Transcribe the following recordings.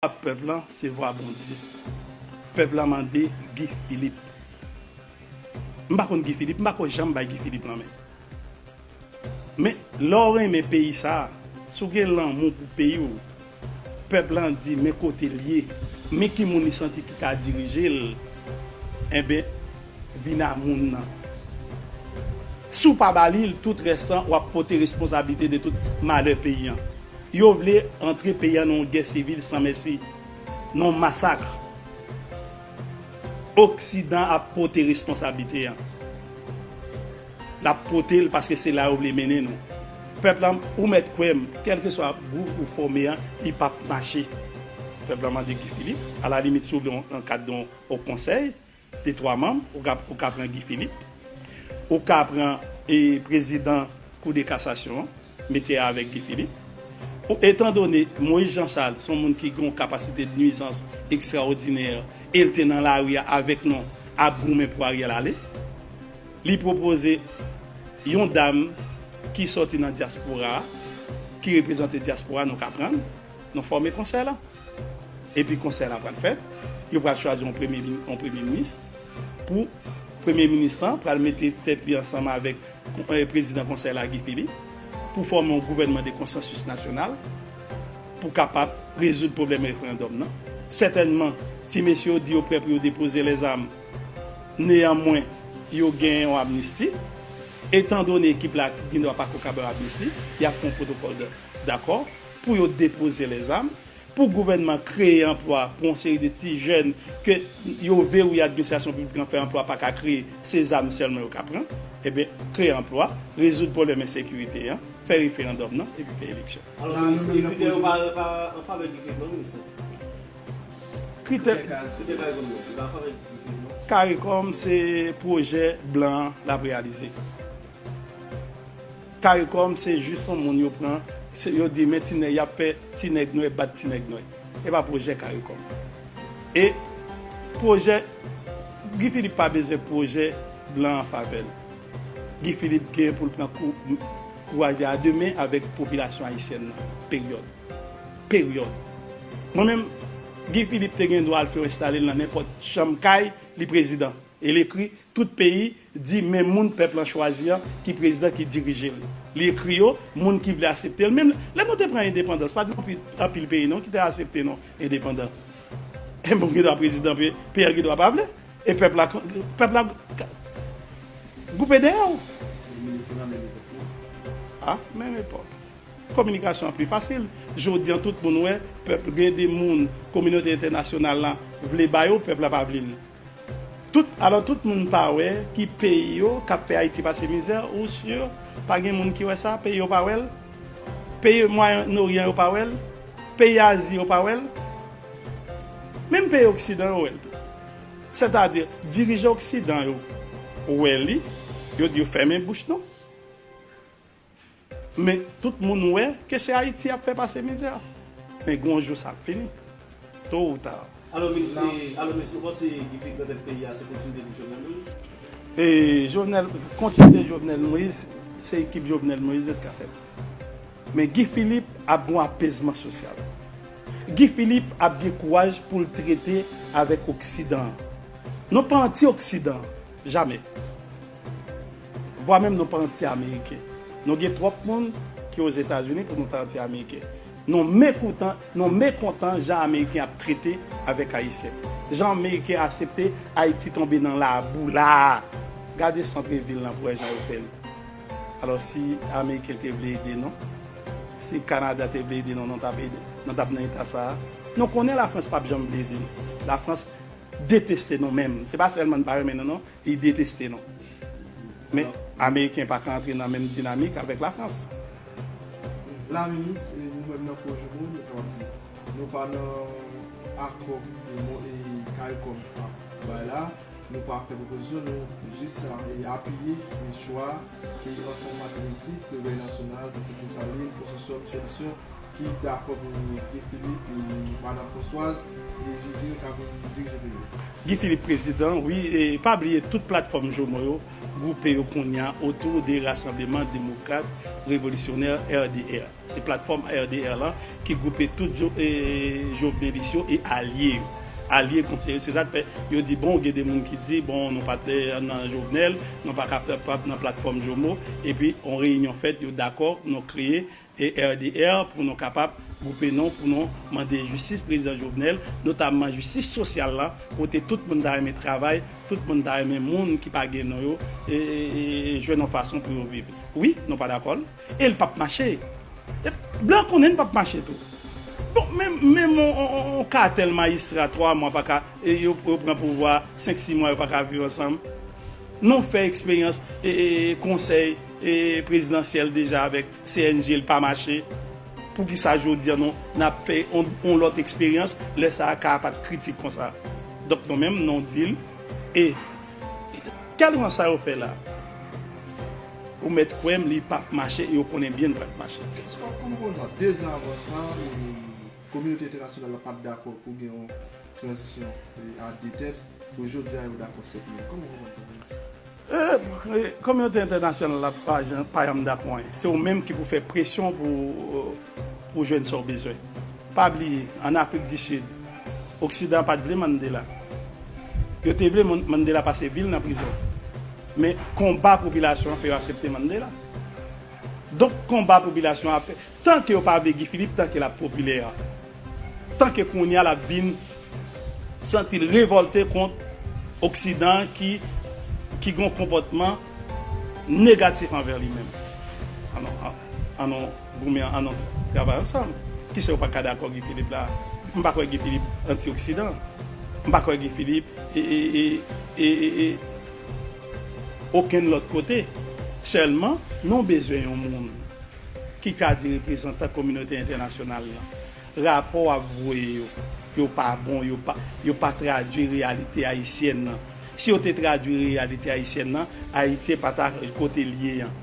Vwa pèp la se vwa Bondye. Pèp la mande Guy Philippe. M pa konn Guy Philippe, m pa ko janm bay Guy Philippe lanmen. Men lè w renmen peyi sa, si w gen lanmou pou peyi w, pèp la di men kote l ye, men ki moun li santi ki ka dirije l, enben vin a moun nan. Si w pa ba li l, tout rès lan w ap pote responsablite de tout malè peyi an. Yo vle antre peyi an nan yon gè sivil san mèsi, nan yon masakre. Oksidan ap pote responsablite an. L ap pote l paske se la yo vle mennen nou. Pèp la, ou mèt kwè m, kèlkeswa gwoup ou fòme an, li p ap mache. Pèp la mande Guy Philippe, alalimit si w vle yon ankadre, yon konsèy. Te 3 manm, ou ka pran Guy Philippe, ou ka pran prezidan kou de kasasyon an, mete avèk Guy Philippe. Etan done Moïse Jean Charles son moun ki gon kapasite de nuizans ekstraodinè e l te nan lari a avèk nou ap goumen pou Ariel ale, li pwopoze yon dam ki sòti nan dyaspora a, ki reprezante dyaspora nou ka pran l, nou fòme konsèy lan. Epi konsèy la pral fèt, yo pral chwazi yon premye minis, pou premye minis lan pral mete tèt li ansanm avèk prezidan konsèy la Guy Philippe pou fòme yon gouvènman de konsansis nasyonal pou kapab rezoud pwoblèm referandòm nan. Sètènman, ti mesye yo di yo prè pou yo depoze lèzam, neyanmwen yo gen yon amnisti, etandone ekip la gendwa pako kab yon amnisti, y ap fè yon pwotokòl dakò. pou yo depoze lèzam, pou gouvènman kreye anplwa pou yon seri de ti jèn ke yo verouye administrasyon piblik lan fè anplwa pa ka kreye, se zam sèlman yo ka pran. Enben, kreye anplwa, rezoud pwoblèm ensekirite an, fè referandòm nan epi fè eleksyon. Alò pa minis lan, kritè yo pa an favè Guy Philippe non minis lan? Kritè caricom yo, li pa an favè Guy Philippe non? Caricom se pwojè blan l ap reyalize. Caricom se jus yon moun yo pran yo di men ti nèg yap fè ti nèg nwè bat ti nèg nwè epa pwojè caricom e pwojè Guy Philippe pa bezwen pwojè blan an favèl Guy Philippe gen poul pran kouraj li a de men avèk popilasyon ayisyèn nan peryòd peryòd mwen menm Guy Philippe te gen dwa al fè yo enstale l nan nenpòt chanm kay li prezidan e l ekri tout peyi di men moun pèp lan chwazi an ki prezidan ki dirije l. Li ekri yo, moun ki vle asepte l. Menm lè nou te pran endepandans, pa gen anpil peyi non ki te asepte nou endepandan. E moun ki dwa prezidan peyi an gen dwa pa vle. E pèp la pèp la goupe dèyè w. Li menm se nan menm epòk non. A menm epòk. Kominikasyon an pi fasil. Jodi an tout moun wè pèp gen de moun kominote entènasyonal lan vle ba yo, pèp la pa vle l. Tout alò tout moun pa wè ki peyi yo kap fè ayiti pase mizè ou sur pa gen moun ki wè sa peyi yo pa wèl peyi mwayen noryan yo pa wèl peyi azi yo pa wèl menm peyi oksidan yo wèl tou sètadi dirijan oksidan yo wè li yo di yo fèmen bouch nou. Men tout moun wè ke se Ayiti yap fè pase mizè. Men gen yon jou sa ap fini. To ou ta. Alo minis e alo minis ou panse ki pi gran tèt peyi a se kontinite li Jovenel Moïse? E Jovenel kontinite Jovenel Moïse se ekip Jovenel Moïse yo t ka fèt. Men Guy Philippe ap gen yon apezman sosyal. Guy Philippe ap gen kouraj poul trete avèk oksidan an. Nou pa anti oksidan, jamè. Vwa menm nou pa anti ameriken. Nou gen twòp moun ki ozetazini pou nou ta anti ameriken. Nou mekoutan, nou mekontan jan ameriken ap trete avèk ayisyen. Jan ameriken asepte ayiti tonbe nan labou la a. Gade santre vil lan pou wè jan yo fè l. Alò si ameriken te vle ede nou, si kanada te vle ede nou, nou tap ede, nou tap nan eta sa a. Nou konnen lafrans pap janm vle ede nou. Lafrans deteste nou menm. Se pa sèlman li pa renmen nou non, Li deteste nou. Men Ameriken pa ka antre nan menm dinamik avèk Lafrans. La minis, nou menm nan Cogeco nou kapab di nou pa nan akò caricom ap bay la, nou pa fè pwopozisyon, nou jis apiye chwa ke ansanm pati politik, Revèy Nasyonal, Pati Kristalin, Konsòsyòm Solisyon ki dakò pou vin gen Guy Philippe e Madan Françoise e Jijil ka vin dirije peyi. Guy Philippe prezidan wi e pa bliye tout platfòm Jomo yo gwoupe yo kounya otou de Rasanbleman Demokrat Revolisyonè, RDR. Se platfòm RDR lan ki gwoupe tout Jovenelis yo e alye yo. Alye konseye yo. Se sa k fè yo di bon gen de moun ki di bon nou pa t nan Jovenel, nou pa ka pap nan platfòm Jomo epi yon reyinyon fèt yo dakò nou kreye ERDR pou nou kapab gwoupe nou pou nou mande jistis prezidan Jovenel, notamman jistis sosyal la kote tout moun ta renmen travay, tout moun ta renmen moun ki pa gen nou yo jwenn yon fason pou yo viv. Wi, nou pa dakò l e l pap mache. Blan konnen l pap mache tou. Bon, menm yon katèl majistra 3 mwa pa ka, yo pran pouvwa 5, 6 mwa yo pa ka viv ansanm. Nou fè eksperyans konsèy prezidansyèl deja avèk CNG l pa mache poukisa jodia nou nap fè yon lòt eksperyans lè sa a ka a pat kritik konsa donk nou menm nou di l e tèlman sa yo fè la a ou mèt kwè m li pap mache e yo konnen byen li pat mache. Eske w ap konprann nan 2 zan avan sa kominote entènasyonal la pat dakò pou gen yon tranzisyon a 2 tèt pou jodia yo dakò 7 mil kòman w konprann sa minis? Kominote entènasyonal la pa janm dakò anyen. Se ou menm ki pou fè presyon pou jwenn sa ou bezwen. Pa bliye, an Afrik di Sid, oksidan pa t vle Mandela. Yo te vle Mandela pase vi l nan prizon. Men konba popilasyon an fè yo asepte Mandela. Donk konba popilasyon an ap fè. Tanke yo pa vle Guy Philippe tanke lap popilè tanke kounya lap vin santil revòlte kont oksidan an ki ki gon konpòtman negatif anvè li menm an nou goumen an nou travay ansanm kisa yo paka dakò Guy Philippe la m pa kwè Guy Philippe anti oksidan m pa kwè Guy Philippe ee okenn lòt kote sèlman nou bezwen yon moun Ki ka di reprezantan kominote entènasyonal lan, rapò wap voye yo, yo pa bon, yo pa, yo pa tradwi reyalite ayisyèn nan. Si yo te tradwi reyalite ayisyèn nan, Ayiti pa ta kote l ye an.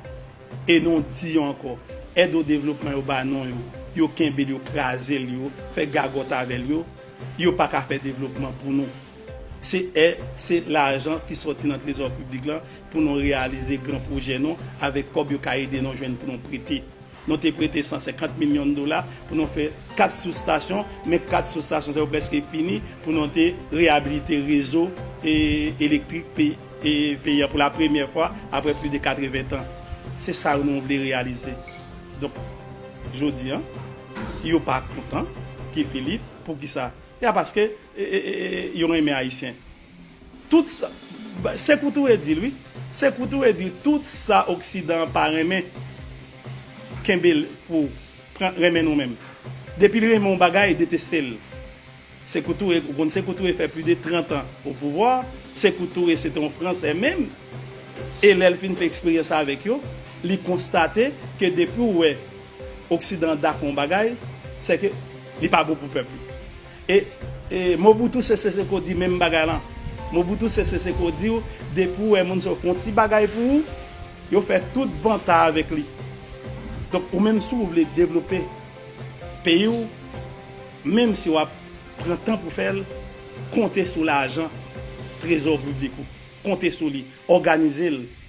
E nou di yo ankò, èd o devlopman yo ba nou yo, yo kenbe l, yo kraze l, yo fè gagòt avè l yo, yo pa ka fè devlopman pou nou. Se è se lajan ki sòti nan trezò piblik la pou nou reyalize gran pwojè nou avèk kòb yo ka ede nou jwenn pou nou prete. Nou te prete 150 milyon dola pou nou fè 4 soustasyon, men 4 soustasyon sa yo prèske fini pou nou te reyabilite rezo elektrik peyi an pou la premyè fwa aprè plis de 80 tan. Se sa yo nou vle reyalize. Donk jodi an yo pa kontan Guy Philippe, poukisa? Ya paske Yo renmen ayisyen tout sa se kou touye dil wi se kou touye dil tout sa oksidan an pa renmen kenbe l pou pran renmen nou menm depi l renmen yon bagay deteste l se kou touye ou konn se kou touye fè pli de 30 an o pouvwa se kou touye se te yon fransè menm e lè l fin fè eksperyans avèk yo li konstate ke depi w wè oksidan an dakò yon bagay se ke li pa bon pou pèp li. E e Mobutu Sese Seko di menm bagay lan. Mobutu Sese Seko di w depi w wè moun sa yo fè yon ti bagay pou ou, yo fè tout vanta avèk li. Donk ou menm si w vle devlope peyi w, menm si w ap pran tan pou fè l, konte sou lajan trezò piblik ou. Konte sou li. Òganize l.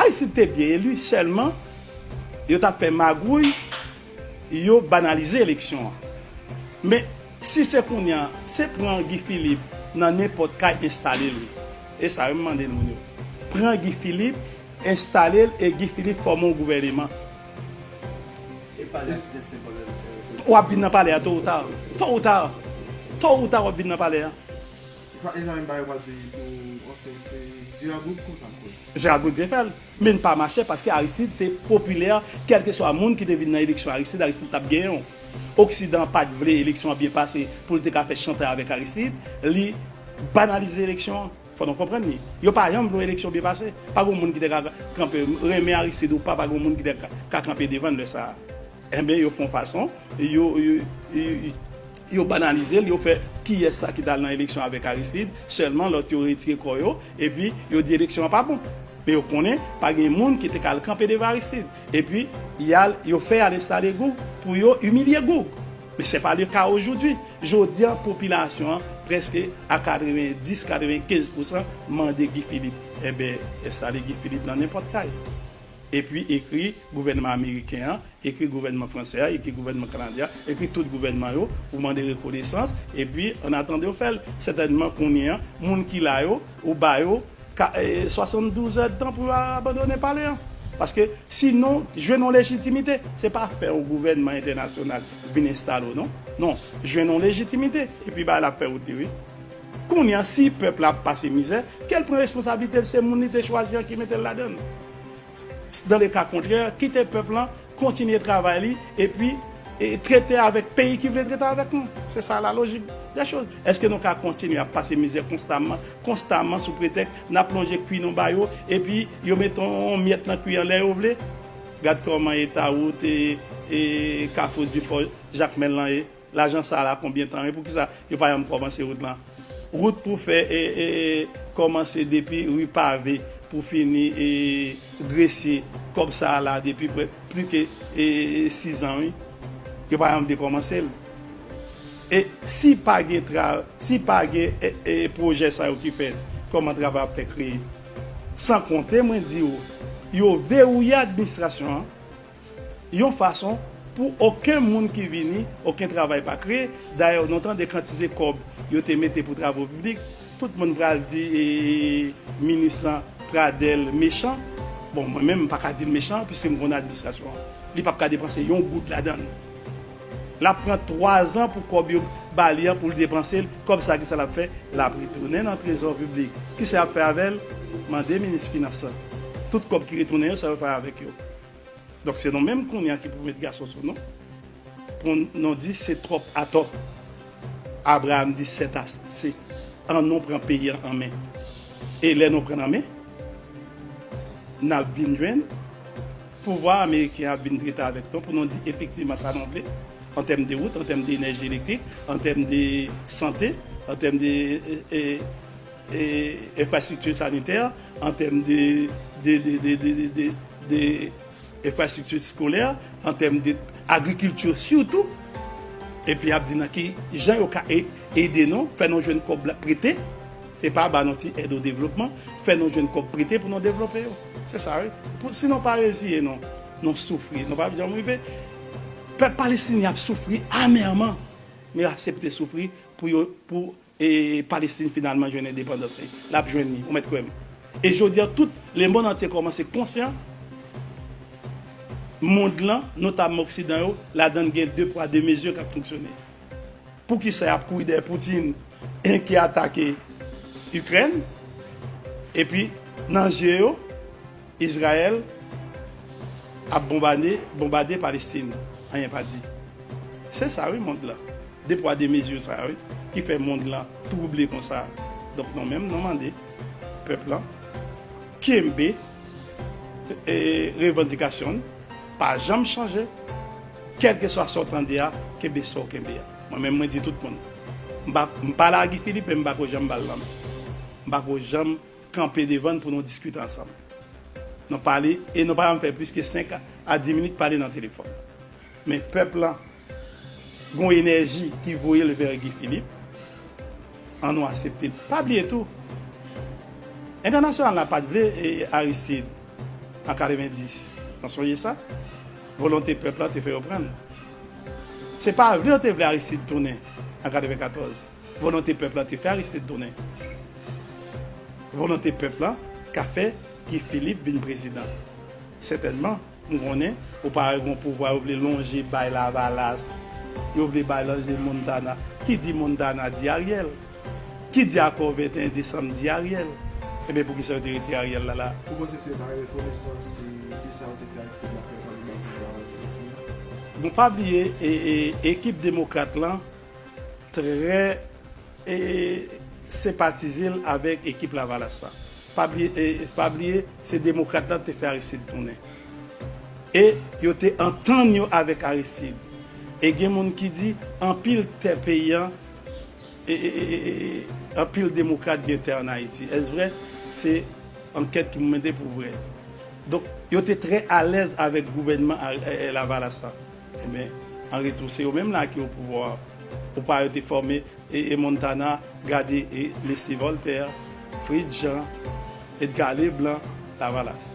Ayisyen te byen eli sèlman yo ta pè magouy yo banalize eleksyon an men si se kounya se pran Guy Philippe nan nenpòt kay enstalel wi e sa yo m mande moun yo pran Guy Philippe enstalel e Guy Philippe fòme yon gouvèneman wap vin nan palè a to ou ta to ou ta to ou ta wap vin nan palè a. Li pa gen anyn bagay wap di pou ansyen se Gerard Goud konsa m kwè. Gerard Goud te fèl menl pa mache paske Aristide te popilè kelke swa moun ki te vin nan eleksyon Aristide Aristide tap genyen w oksidan pat vle eleksyon an byen pase poul te ka fè chantay avèk Aristide li banalize eleksyon an fò nou konprann li yo pa janm vle w eleksyon byen pase pa gon moun ki te ka kanpe renmen Aristide ou pa pa gon moun ki te ka kanpe devan l lè sa enben yo fon fason yo. Yo banalize l, yo fè kiyès sa ki t al nan eleksyon avèk Aristide sèlman lòt yo retire kò yo epi yo di eleksyon an pa bon. Men yo konnen pa gen moun ki te ka al kanpe devan Aristide. Epi y al yo fè y al enstale Goug pou yo imilye Goug. Men sè pa le ka ojoudwi. Jodi an popilasyon an prèske a 90, 95 pousan mande Guy Philippe. Enben enstale Guy Philippe nan nenpòt kay. Epi ekri gouvènman ameriken an, ekri gouvènman fransè a, ekri gouvènman kanadyen an, ekri tout gouvènman yo pou mande rekonesans, epi ann atandan yo fè l. Sètènman kounye an, moun ki la yo, ou ba yo 72 èdtan pou yo abandone pale an. Paske si nou jwenn yon lejitimite, se pa fè yon gouvènman entènasyonal vin enstale w non. Non, jwenn yon lejitimite, epi bagay la ap fè wout li wi. Kounya si pèp la ap pase mizè, kel pran responsablite l se moun li te chwazi an ki mete l ladann. Dans le cas contraire, kite pèp lan kontinye travay li epi trete avèk peyi ki vle trete avèk nou. Se sa la lojik dè choz. Eske nou ka kontinye ap pase mizè konstaman, konstaman sou pretèks n ap lonje kwi nou ba yo epi yo mete yon myèt nan kwi an lè yo vle? Gad kòman eta wout Kafou Difò Jakmèl lan ye. Lajan sa la konbyen tan e poukisa yo pa janm kòmanse wout lan? Wout pou fè kòmanse depi ri pave pou fini gresye kòb sa la depi pli ke 6 an wi yo pa janm vle kòmanse l e si pa gen si pa gen pwojè sa yo ki fèt kòman travay ap fè kreye san konte mwen di w yo verouye administrasyon an. yon fason pou oken moun ki vini, oken travay pa kreye, dayè nou tande kantite kòb yo te mete pou travo piblik, tout moun pral di minis lan Pradel mechan, bon mwen menm m paka dil mechan piske m konn administrasyon an, li pap ka depanse yon goud ladann, lap pran 3 zan pou kòb yo bali an poul depansel, kòb sa kisa lap fè, lap retounen nan trezò piblik, kisa yap fè avèl, mande minis finans lan, tout kòb ki retounen yo sa yo fè avèk yo. Donk se nou menm kounye a ki pou met gason sou nou pou nou di se twòp atò. Abraam di sètase, an nou pran peyi an an men. E lè nou pran l an men, n ap vin jwenn pouvwa ameriken an ap vin trete avèk nou pou nou di efektivman sa nou vle an tèm de wout, an tèm de enèji elektrik, an tèm de sante, an tèm de. Enfrastrikti sanitè, an tèm de enfrastrikti skolè, an tèm de agrikilti sitou, epi ap di nan ki jan yo ka ede nou, fè nou jwenn kòb la prete, se pa ba nou ti èd o devlopman, fè nou jwenn kòb prete pou nou devlope yo. Se sa wi. Si nou pa reziye nou, nou soufri, nou pa janm rive. Pèp palestinyen ap soufri amèman, men yo asepte soufri pou yo, pou. E Palestin finalman jwenn endepandans li. Lap jwenn li, ou mèt kwèm. E jodi a tout le mond antye kòmanse konsyan mond lan, notamman oksidan yo, ladann gen de pwa de mezi kap fonksyone. Poukisa yap kouri dèyè Putin ki atake Ikrèn epi nan je yo, Izrayèl ap bonbane bonbade palestin anyen pa di se sa wi mond lan de pwa de mezi sa wi ki fè mond lan twouble konsa donk nou menm nou mande pèp lan kenbe revandikasyon n pa janm chanje kèlkeswa sa w tande a kenbe sa w kenbe a mwen menm mwen di tout moun m pa lagi filipe m pa ko janm ba l lanmen m pa ko janm kanpe devan n pou nou diskite ansanm. Nou pale e nou pa janm fè plis ke 5 a 10 minit pale nan telefòn. Men pèp lan gen yon enèji ki voye l vè Guy Philippe. An nou asepte. Pa bliye tou, entènasyonal la pa t vle Aristide an 90. Nou sonje sa? Volonte pèp lan te fè yo pran l. Se pa vle yo te vle Aristide tounen an 94. Volonte pèp la te fè Aristide tounen. Volonte pèp la ka fè Guy Philippe vin prezidan. Sètènman, m konnen ou pa wè gon pouvwa yo vle lonje bay Lavalas, yo vle bay lonje Montana. Ki di Montana di Ariel. Ki di akò 21 desanm di Ariel. Enben pou kisa yo te retire Ariel la la? Ou panse se pa rekonesans se de sa yo te fè Aristide la fè yo pa vle bay pouvwa a Guy Philippe? Nou pa bliye ekip demokrat lan. Trè e senpatize l avèk ekip lavalas la. Pa bliye e pa bliye se demokrat la te fè Aristide tounen. E yo te antann yo avèk Aristide. E gen moun ki di anpil tè peyi an e anpil demokrat gen tè an Ayiti. Èske vrè? Se ankèt ki pou mande pou vrè. Donk yo te trè alèz avèk gouvènman lavalas la. Enben, an retou, se yo menm la ki o pouvwa a. O pa yo te fòme e e Montana, gade e Leslie Voltaire, Fritz Jean, Edgar Leblanc, Lavalas.